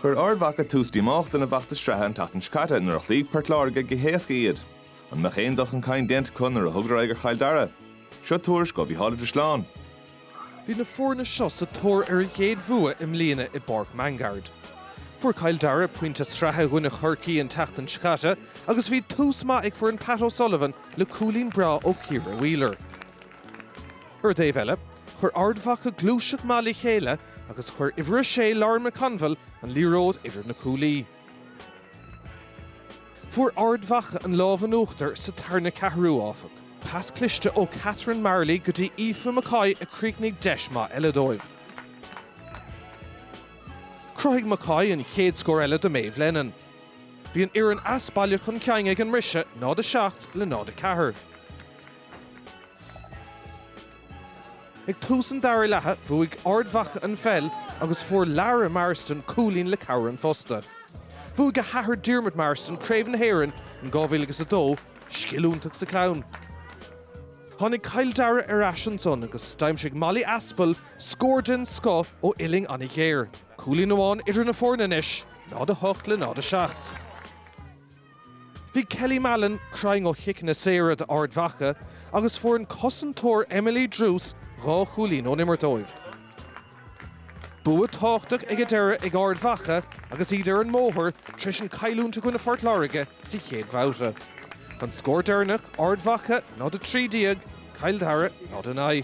Chuir Ard Mhacha tús díomách lena bhfeachtas sraithe an tseachtain seo caite nuair a chloígh Port Láirge go héasca iad. An mbeadh aon dul chun cinn déanta acu nuair a thugadar aghaidh ar Chill Dara? Seo tuairisc ó Mhícheál Ó Drisleáin. Bhí na foirne seo sa tóir ar a gcéad bhua i mbliana i bPáirc Mangaard. Fuair Cill Dara pointe sraithe i gcoinne Chorcaí an tseachtain seo caite agus bhí tús maith ag foireann Pat O'Sullivan le cúilín breá ó Ciara Wheeler. Ar an dtaobh eile, chuir Ard Mhacha gluaiseacht maith le chéile agus chuir uimhir a sé Lauren McConville an liathróid idir na cuaillí. Fuair Ard Mhacha an lámh in uachtar sa tarna ceathrú, áfach. Pas cliste ó Catherine Marley go dtí Aoife McCoy a chríochnaigh deis maith eile dóibh. Chruthaigh McCoy an chéad scór eile do Maeve Lennon. Bhí an fhoireann as baile chun cinn ag an mbriseadh, 0, 7 le 0, 4. Ag tús an dara leatha, bhuaigh Ard Mhacha an pheil agus fuair Lara Marsden cúilín le cabhair an phosta. Bhuaigh a hathair Diarmuid Marsden Craobh na hÉireann in 2002, scil iontach sa chlann. Tháinig Cill Dara ar ais ansan agus d'aimsigh Molly Aspal scór den scoth ó uillinn an-ghéar. Cúilín amháin idir na foirne anois, 0:08 le 0:07. Bhí Kelly Mallon cruinn ó chiceanna saora d'Ard Mhacha agus fuair an cosantóir Emily Druse dhá chúilín ón imirt dóibh. Bua tábhachtach ag an deireadh ag Ard Mhacha agus iad ar an mbóthar tar éis an cailliúint i gcoinne Phort Láirge sa chéad bhabhta. An scór deireanach, Ard Mhacha 0, 13, Cill Dara 0, 9.